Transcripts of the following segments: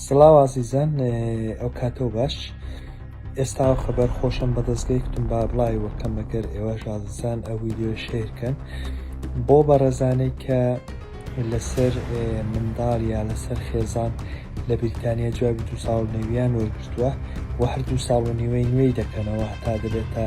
سڵاو ئازیزان ئەوکاتەو باش ئێستاو خەبەر خۆشم بەدەستگەی کتم با بڵای وەکەم مەگەر ئێوەش ئازیزان ئەو ویددیۆ شێرکەن بۆ بەڕێزانەی کە لەسەر منداڵ یا لەسەر خێزان لە بریتانیا جوابی دو ساڵ نەویان وەرگرتووە و هەر دو ساڵ و نیوەی نوێی دەکەنەوە هەتا دەبێتە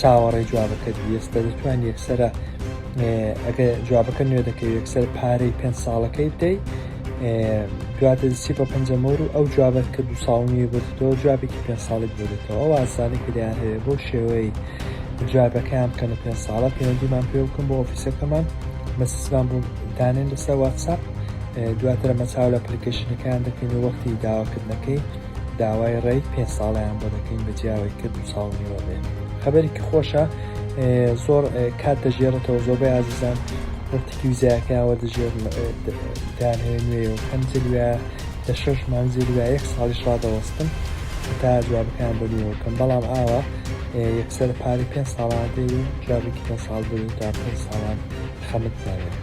چاوەڕێی جوابەکەت ویست دەتوان یەکسرە ئەگە جوابەکە نوێ دەکەی یەکسەر پارەی پێ ساڵەکەی بدەی دواتە سی بە پەنجەمەور و ئەو جوابەت کە دو ساڵنی بێتەوە جوابێکی پێ ساڵێک بێتەوە وازانە کردیان هەیە بۆ شێوەی جوابەکەیان بکەنە پێ ساڵە پەیوەندیمان پێ بکەم بۆ ئۆفیسەکەمان مەسیسمان بوو دانێن لەسەر واتساپ دواترە مەچاو لە پلیکەشنەکان دەکەین وەختی داواکردنەکەی داوای ڕێی پێ ساڵیان بۆ دەکەین بە جیاوەی کە دو ساڵ نیوە بێ خەبەرێکی خۆشە زۆر کات دەژێڕێتەوە زۆربەی ئازیزان وەرتکی وزایەکەیانوە دەژێر دان هەیە نوێ و هەم جلوە لە شەش مانزی لە یەک ساڵی شادەوەستن تا جوابەکان بەنیەوەکەم بەڵام ئاوە یەکسەر پارەی پێ ساڵان دێ و جوابێکی پێ ساڵ بێ تا پێ ساڵان خەمت ناێت